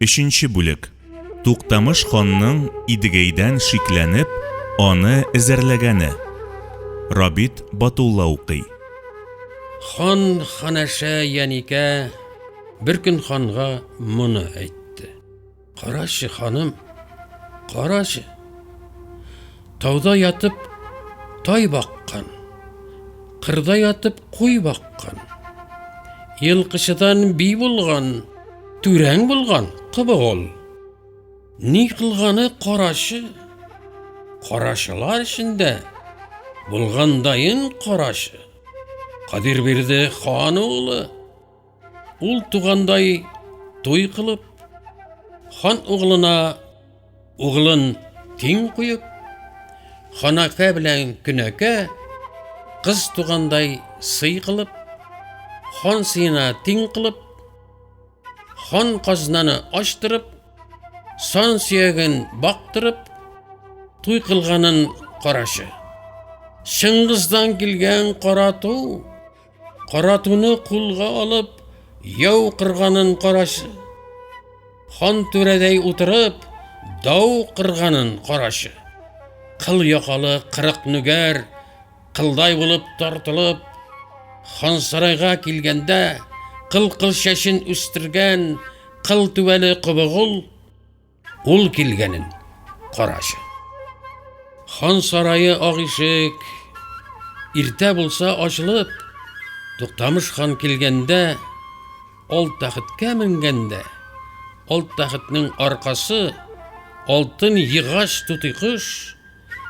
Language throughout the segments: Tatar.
Өченче бүлек. Туктамыш ханның Идегәйдән шикләнеп, аны эзәрләгәне. Рабит Батулла укый. Хан ханәшә Яникә бер көн ханга моны әйтте. Карачы, ханым, карачы. Тауда ятып тай баккан, кырда ятып куй баккан. Елкычыдан би булган, түрәң булган кыбык ул. Ни кылганы карачы? Карачылар эчендә булгандайын карачы. Кадир бирде хан улы Ул тугандай туй кылып, хан углына углын тиң куеп, ханакә белән көнәкә кыз тугандай сый кылып, хан сыена тиң кылып, хан казнаны ачтырып, сан сөяген бактырып, туй кылганын карашы. Чыңгыздан килгән карату Каратуны кулга алып, яу кырганын караш. Хан түрәдәй утырып, дау кырганын карашы. Кыл якалы кырык нүгәр, кылдай булып тартылып, хан сарайга килгәндә, кыл кыл чәчен үстергән, кыл түбәле кобыгыл, Ул килгәнен карачы. Хан сарае ак ишек. Иртә булса ачылып, Туктамыш хан килгәндә, ал тәхеткә менгәндә, ал тәхетнең аркасы алтын егач тутый кош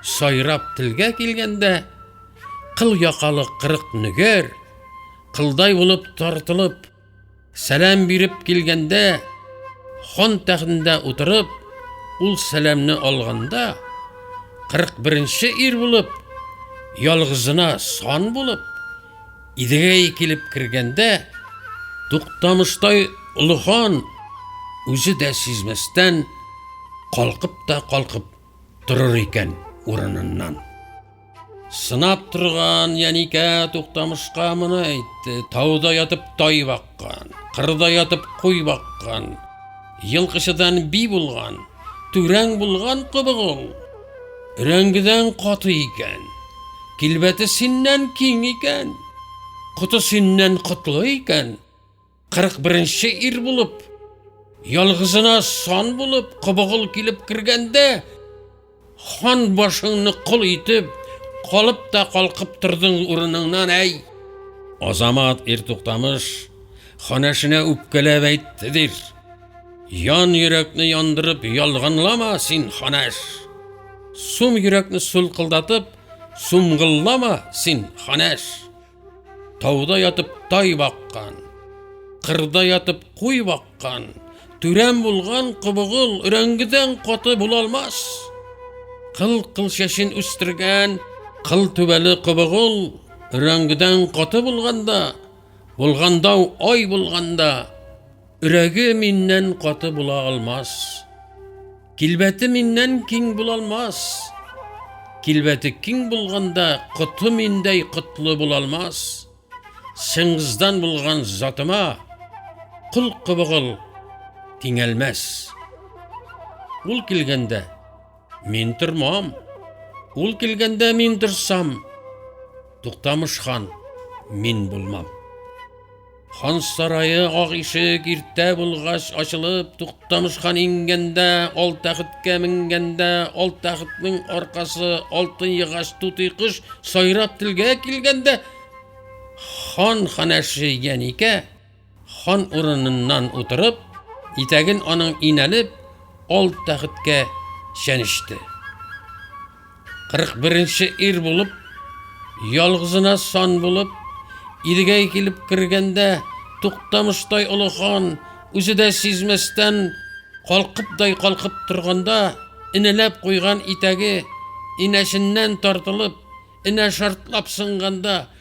сайрап телгә килгәндә, кыл якалы кырык нөгер, кылдай булып тартылып, Сәлам биреп килгәндә, хан тәхтендә утырып, ул сәламне алганда, 41-нче ир булып, ялгызына сан булып, Идегәй килеп кергәндә, Туктамыштай олы хан үзе дә сизмәстән калкып та калкып торыр икән урыныннан. Сынап торган Яникә туктамышка моны әйтте. Тауда ятып тай баккан, кырда ятып куй баккан, елкычыдан би булган, түрәң булган кыбык ул. Өрәңгедән каты икән, килбәте синнән киң икән, коты синнән котлы икән, Кырык беренче ир булып, ялгызына сан булып, кобыгыл килеп кергәндә, хан башыңны кол итеп, калып та калкып тордың урыныңнан, әй! Азамат ир туктамыш, ханәшенә үпкәләп әйтте дир. Ян йөрәкне яндырып, ялганлама син, ханәш! Сум йөрәкне сулкылдатып, сумгыллама син, ханәш! Тауда ятып тай баккан, кырда ятып куй баккан, түрәм булган кобыгыл өрәңгедән каты була алмас. Кыл кыл чәчен үстергән кыл түбәле кобыгыл өрәңгедән каты булганда, булганда ай булганда, өрәге миннән каты була алмас. Килбәте миннән киң булалмас. Килбәте киң булганда коты миндәй котлы булалмас. Чыңгыздан булган затыма кул кыбыгыл тиңәлмәс. Ул килгәндә мин тормам. Ул килгәндә мин торсам, Туктамыш хан мин булмам. Хан сарае ак ишек иртә булгач ачылып, Туктамыш хан иңгәндә, ал тәхеткә менгәндә, ал тәхетнең аркасы алтын егач тутый кош сайрап телгә килгәндә, хан ханәше Яникә хан урыныннан утырып, итәген аның инәлеп, ал тәхеткә чәнечте. 41 нче ир булып, ялгызына сан булып, Идегәй килеп кергәндә, туктамыштай олы хан, үзе дә сизмәстән, калкыпдай калкып торганда, инәләп куйган итәге инәсеннән тартылып, инә шартлап сынганда,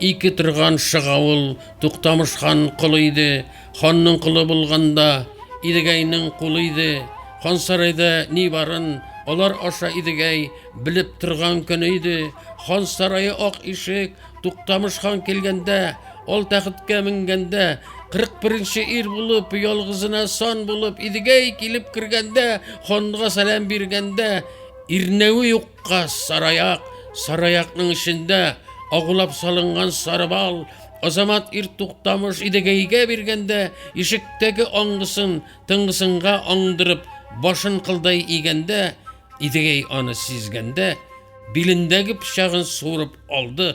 Ике торган шыгавыл Туктамыш хан колы иде. Ханның колы булганда Идегәйнең кулы иде. Хан сарайда ни барын алар аша Идегәй белеп торган көне иде. Хан сарае ак ишек, Туктамыш хан килгәндә, ул тәхеткә менгәндә, 41-нче ир булып, ялгызына сан булып Идегәй килеп кергәндә, ханга сәлам биргәндә, ирнәве юк Кыз, сараяк, сараякның эчендә агулап салынган сарыбал, Азамат ир туктамыш идегәйгә биргәндә, ишектәге аңгысын тыңгысынга аңдырып, башын кылдай игәндә, идегәй аны сизгәндә, билендәге пычагын суырып алды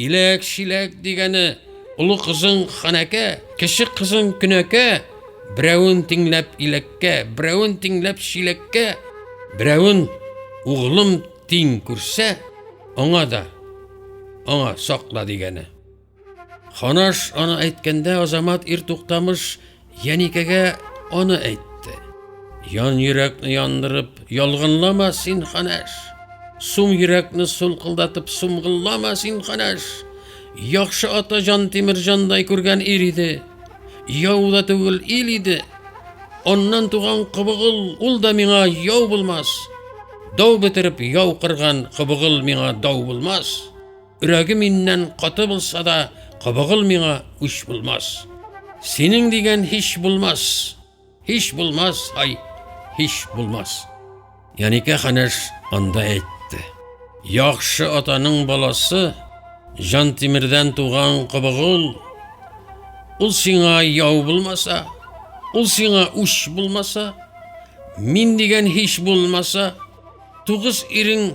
Иләк-чиләк дигәне олы кызың ханәкә, кече кызың көнәкә, берәвен тиңләп иләккә, берәвен тиңләп чиләккә, берәвен углым тиң күрсә, аңа да аңа сакла дигәне. Ханаш аны әйткәндә Азамат ир туктамыш Яникәгә аны әйтте. Ян йөрәкне яндырып, ялгынлама син, ханәш. Сум йөрәкне сулкылдатып, сумгыллама син, ханәш. Яхшы ата җан Тимирҗандай күргән ир иде. Яу да түгел ил иде. Аннан туган кыбыгыл ул да миңа яу булмас. Дау бетереп яу кырган кыбыгыл миңа дау булмас. Өрәге миннән каты булса да, кабыгыл миңа үч булмас. Синең дигән һич булмас, һич булмас, ай, һич булмас. Яникә ханәш анда әйтте. Яхшы атаның баласы, жан тимердән туган кыбыгыл, ул сиңа яу булмаса, ул сиңа үш булмаса, мин дигән һич булмаса, тугыз ирең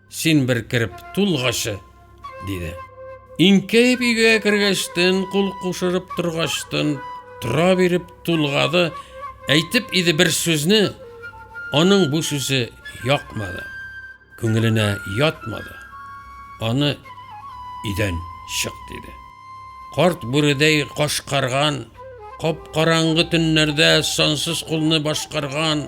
Син бер кереп тулгачы, диде. Инкәеп өйгә кергәчтен, кул кушырып торгачтын, тора биреп тулгады, әйтеп иде бер сүзне, аның бу сүзе якмады, күңеленә ятмады. Аны идән чык диде. Карт бүредәй кашкарган, кап-караңгы төннәрдә сансыз кулны башкарган,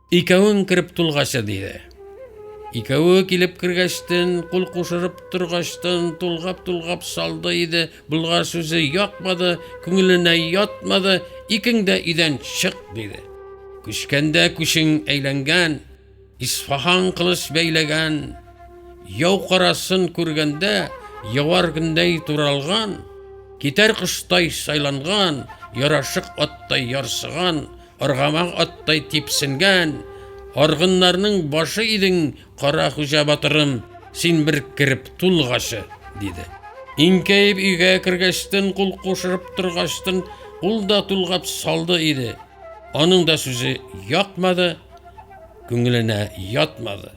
Икәвең кереп тулгачы, диде. Икәве килеп кергәчтен, кул кушырып торгачтын, тулгап-тулгап салды иде. Болгар сүзе якмады, күңеленә ятмады, икең дә өйдән чык, диде. Күчкәндә күчең әйләнгән, Исфахан кылыч бәйләгән, яу карасын күргәндә, явар көндәй туралган, китәр коштай сайланган, ярашык аттай ярсыган, Аргамак аттай типсенгән аргыннарның башы идең, Кара хуҗа батырым, син бер кереп тулгачы, диде. Инкәеп өйгә кергәчтен, кул кушырып торгачтын, ул да тулгап салды иде. Аның да сүзе якмады, күңеленә ятмады.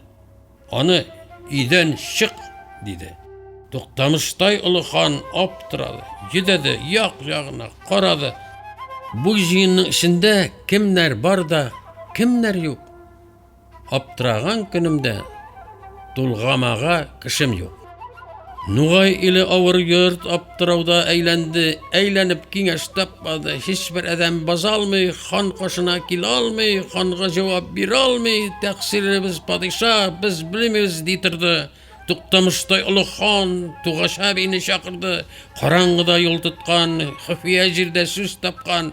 Аны өйдән чык, диде. Туктамыштай олы хан аптырады, йөдәде, як-ягына карады. Бу җыенның эчендә кемнәр бар да, кемнәр юк? Аптыраган көнемдә тулгамага кешем юк. Нугай иле авыр йорт аптырауда әйләнде, әйләнеп киңәш тапмады. Һичбер адәм базалмый, хан кашына килә алмый, ханга җавап бирә алмый, тәкъсиребез падиша, без белмибез ди торды. Туктамыштай олы хан Тугаша бийне чакырды. Караңгыда юл тоткан, хөфия җирдә сүз тапкан.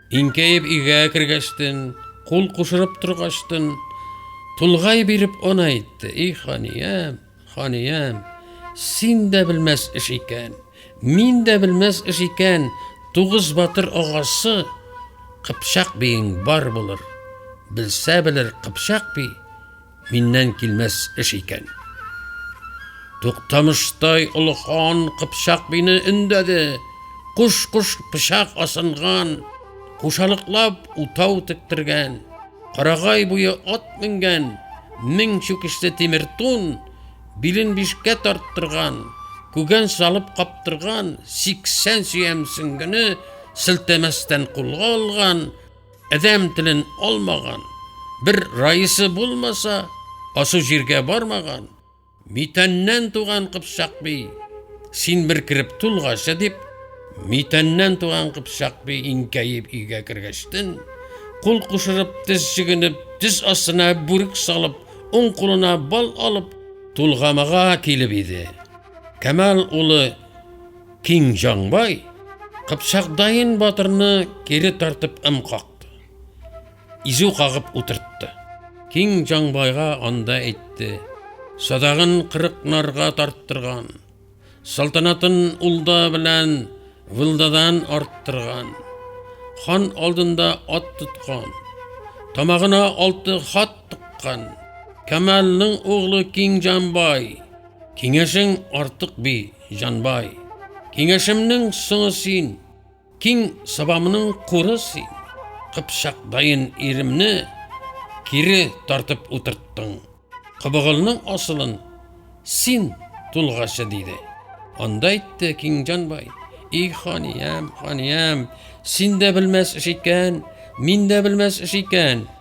Инкәеп игә кергәчтен, кул кушырып торгачтын, тулгай биреп он әйтте, и ханиям, ханиям, син дә белмәс эш икән, мин дә белмәс эш икән, тугыз батыр агасы кыпчак биең бар булыр, белсә белер кыпчак би, Миннән килмәс эш икән. Туктамыштай олы хан кыпчак бине өндәде. Куш-куш пычак асынган, кушалыклап утау тектергән, карагай буе ат менгән, мең чүкешле тимер тун, билен бишкә тарттырган, күгән салып каптырган, 80 сөям сөңгене селтәмәстән кулга алган, Адәм телен алмаган, бер раисы булмаса, асу җиргә бармаган, митәннән туган кыпчак би, син бер кереп тулгача дип, митәннән туган кыпчак би инкәеп өйгә кергәчтен, кул кушырып, тез чигенеп, тез астына бүрек салып, уң кулына бал алып, тулгамага килеп иде. Камал улы Киң Җанбай Кыпчак Дайын батырны кире тартып ым какты. Изү кагып утыртты. Киң Җанбайга анда әйтте. Садагын кырык нарга тарттырган. Салтанатын улда белән вылдадан арттырган. Хан алдында ат тоткан. Тамагына алты хат тыккан. Камалның углы Киң Җанбай Киңәшең артык би, җанбай. Киңәшемнең соңы син, киң сабамның куры син. Кыпчакдаен иремне кире тартып утырттың. Кыбыгылның асылын син тулгачы диде. Анда әйтте киң җанбай. И ханиям, ханиям, син дә белмәс эш икән, мин дә белмәс эш икән.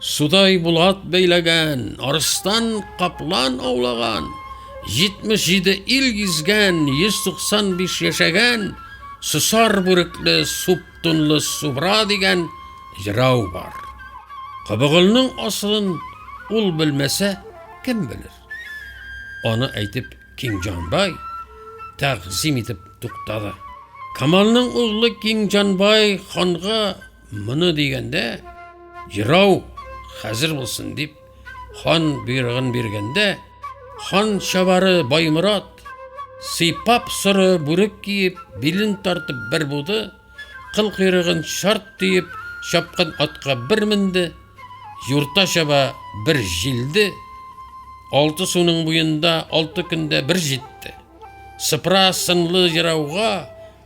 Судай булат бәйләгән, арыстан, каплан аулаган, 77 ил гизгән, 195 яшәгән, сусар бүрекле, суп тунлы субра дигән җырау бар. Кыбыгылның асылын ул белмәсә, кем белер? Аны әйтеп Кинҗанбай тәгъзим итеп туктады. Камалның углы Кинҗанбай ханга Моны дигәндә, ерау хәзер булсын дип, хан бирган биргәндә, хан чабары Баймурат сыйпап соры бүрек киеп, билен тартып бер буды, кыл кыйрыгын шарт төеп, чапкан атка бер менде, юрта чаба бер җилде, алты суның буенда алты көндә бер җитте. Сыпра сынлы ерауга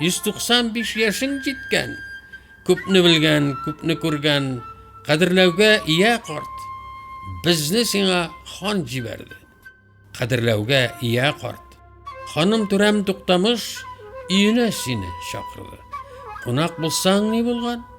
195 яшен җиткән, күпне белгән, күпне күргән, кадерләүгә ия карт. Безне сиңа хан җибәрде. Кадерләүгә ия карт. Ханым Түрәм Туктамыш өенә сине чакырды. Кунак булсаң ни булган?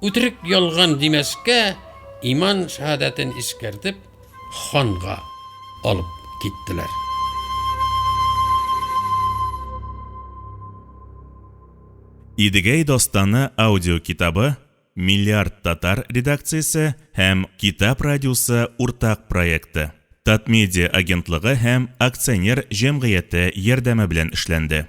Үтерек ялган димәскә, иман шәһадәтен искәртеп, ханга алып киттеләр. Идегәй дастаны аудиокитабы Миллиард татар редакциясе һәм Китап радиосы уртак проекты. Татмедиа агентлыгы һәм акционер җәмгыяте ярдәме белән эшләнде.